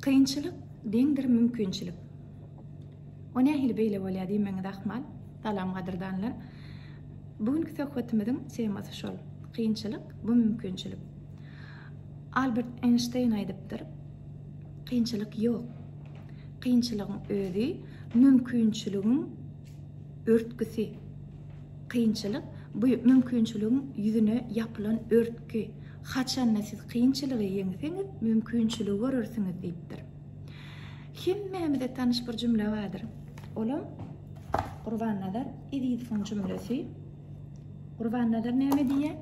Kynçylyk deňdir mümkinçilik. O nähili beýle bolýar diýmegiňiz ahmal. Salam gadyrdanlar. Bu günki söhbetimiziň temasy şol. Kynçylyk bu mümkinçilik. Albert Eýnşteýn aýdypdyr. Kynçylyk ýok. Kynçylygyň özi mümkinçiligiň Örtgüsi. Kynçylyk, bu mümkinçiligiň ýüzüne ýapylan örtgi. Haçanda siz kynçylygy ýeňseňiz, mümkinçiligi görersiňiz diýipdir. Hemmämize tanyş bir jümle bardyr. Olam Gurbannazar Ezizowyň jümlesi. Gurbannazar näme diýýär?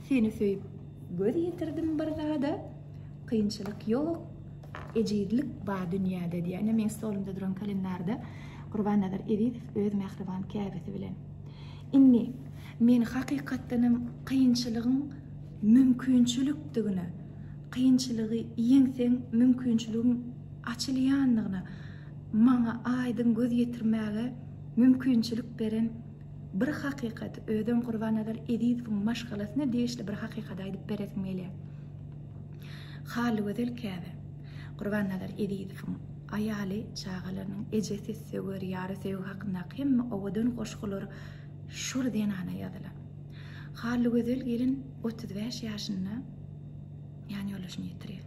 Seni söýüp göz ýetirdim bir zada, kynçylyk ýok, Ejizlik bar dünýäde diýýär. Ine, meniň stolumda duran kalendarda Gurbannazar Ezizow öz mähriban käbesi bilen. Indi men hakykatdan hem kynçylygyň mümkinçilikdigine, kynçylygy ýeňseň mümkinçiligiň açylýandygyna maňa aýdyň göz ýetirmäge mümkinçilik beren Bir hakykat, özem Gurbannazar Ezizowyň maşgalasyna degişli bir hakykat aýdyp beresim gelýär. Hallygözel käbe. Gurbannazar Ezizowyň aýaly, çagalarynyň ejesi, söwer ýary, söýgi hakyndaky hemme owadan goşgular şol zenana ýazylan. Hallygözel gelin otuz bäş ýaşynda ýanýoldaşyny ýitirýär.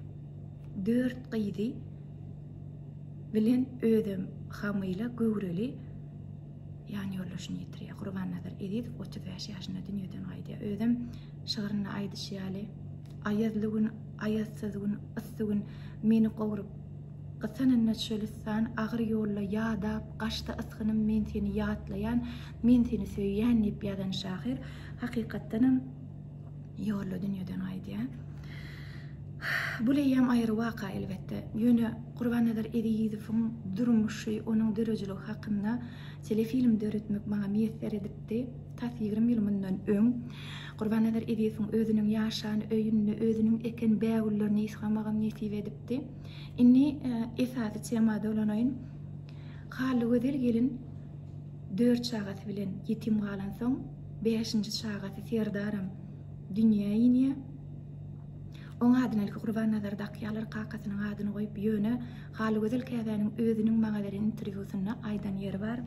Dört gyzy bilen özem hamyla, göwreli Ýanýoldaşyny ýitirýär. Gurbannazar Ezizow otuz bäş ýaşynda dünýeden gaýdýar. Özem şygrynda aýdyşy ýaly, Aýazly gün, aýazsyz gün, yssy gün meni gowrup, Gysanynda çölistan agyr ýolda ýadap, Gaşda ysgynym men seni ýatlaýan, Men seni söýýän diýip ýazan şahyr hakykatdanam, Ýolla dünýeden gaýdýar. Bu leýem aýry waka elbetde. Ýöne Gurbannazar Ezizowyň durmuşy, onuň döredijiligi hakynda telefilm döretmek maňa miýesser edipdi. Tas ýigrimi ýyl mundan öň Gurbannazar Ezizowyň özüniň ýaşan öýünde özüniň eken bägüllerini ysgamagym nesip edipdi. Indi esasy tema dolanaýyn. Hallygözel gelin dört çagasy bilen ýetim galansoň, Bäşinji çagasy Serdaram dünýä inýär. Oň adyna ilki Gurbannazar dakýarlar, kakasynyň adyny goýup, ýöne Halygözel käbäniň özüniň maňa beren interwýusynda aýdan ýeri bar.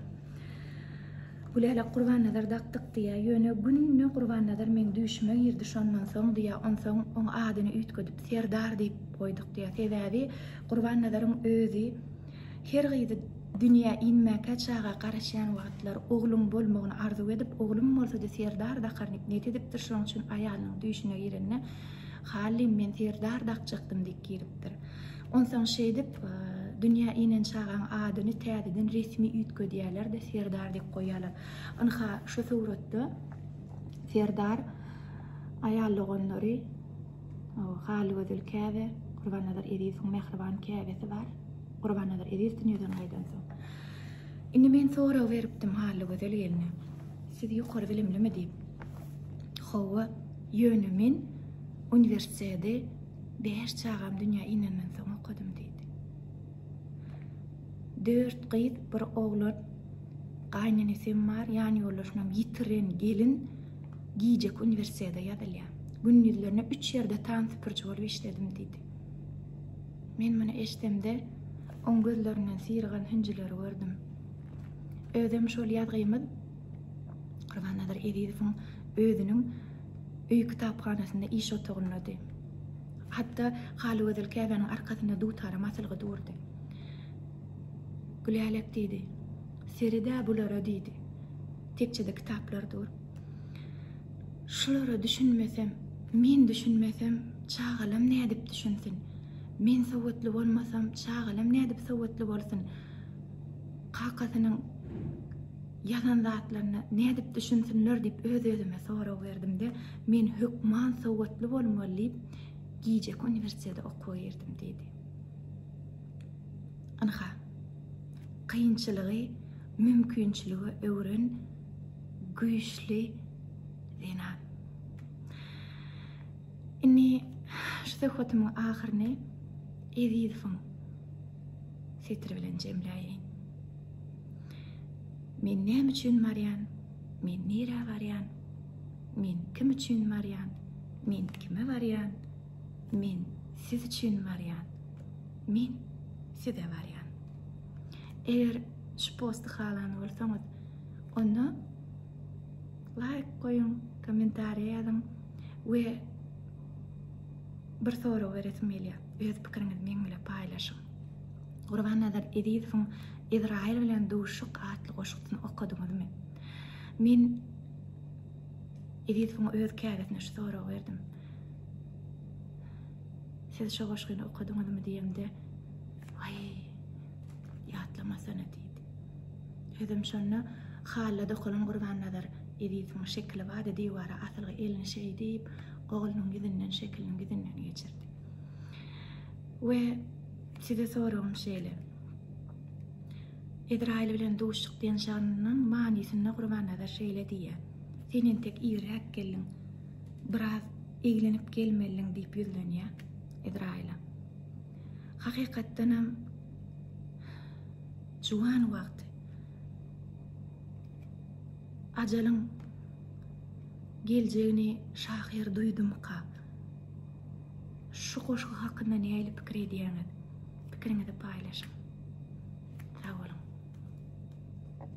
Gülälek Gurbannazar dakdyk diýýär, ýöne günde Gurbannazar meň düýşüme girdi, şondan soň diýýär, onsoň oň adyny üýtgedip Serdar diýip goýduk diýýär. Sebäbi Gurbannazaryň özi Her gyzy dünýä inmäkä çaga garaşýan wagtlar ogluň bolmagyny arzuw edip, oglum bolsady Serdar dakarnik net edipdir şoň üçin aýalynyň düýşüne girende Halim men Serdar dakjakdym diýip giripdir. Onsaň şeýdip dünýä inen çagaň adyny täzeden resmi üýtgedýälerde Serdar diýip goýýalar. Ynha şu suratda Serdar aýal doganlary. Halygözel Käbe, Gurbannazar Ezizowyň mähriban käbesi bar. Gurbannazar Eziz dünýeden gaýdan soň. Indi men sorag beripdim Halygözel gelne. Siz ýokary bilimlimi diýip. Hawa, ýöne men uniwersiteti bäş çagam dünýä inenden soň okadym diýdi. Dört gyz, bir oglan gaýnenesem bar, ýanýoldaşynam ýitiren gelin. Gijeki uniwersitete ýazylýan. Gündizlerine üç ýerde tan süpürji bolup işledim diýdi. Men muny eşdemde, oň gözlerinden syrygan hünjüleri gördüm. Özem şol ýazgymyz Gurbannazar Ezizowyň özüniň öý kitaphanasynda iş otagyndady. Hatda Halygözel käbäniň arkasynda dutaram asylgy durdy. Gülälek diýdi. Sered-ä bulara diýdi. Tekjede kitaplar dur. Şulara düşünmesem, men düşünmesem, çagalam nädip düşünsin? Men sowatly bolmasam, çagalam nädip sowatly bolsun? Kakasynyň ýazan zatlaryna nädip düşünsinler diýip öz-özüme sorag berdim-de, men hökman sowatly bolmaly diýip, gijeki uniwersitete okuwa girdim diýdi. Ynha, kynçylygy mümkinçilige öwren, güýçli zenan. Indi şu söhbetimiň ahyryny Ezizowyň setiri bilen jemläýin. Men näme üçin barýan? Men nirä barýan? Men kim üçin barýan? Men kime barýan? Men siz üçin barýan. Men size barýan. Eger şu posty halan bolsaňyz, Onda laýk goýuň, kommentariýa ýazyň we bir sorag beresim gelýär. Öz pikiriňizi meň bilen paýlaşyň. Gurbannazar Ezizowyň Izraýyl bilen duşuk atly goşgusyny okadyňyzmy? Men Ezizowyň öz käbesine şu soragy berdim. Siz şu goşgyny okadyňyzmy diýemde, Aý, ýatlamasana diýdi. Özem şonda Halla dokalan Gurbannazar Ezisiň şekili bardy, diwara asylgy elini şeý diýip, oglunyň ýüzünden şekiliniň ýüzünden geçirdi. We size soragym şeýle. Ezraýyl bilen duşduk diýen şanynyň manysynda Gurbannazar şeýle diýýär, Sen entek irräk geldiň, biraz eglenip gelmelidiň diýip ýüzlenýär Ezraýyla. Hakykatdanam Juwan wagty. Ajalyň geljegini şahyr duýdumyka? Şu goşgy hakynda nähili pikir edýäňiz? Pikiriňizi paýlaşyň. Sag boluň.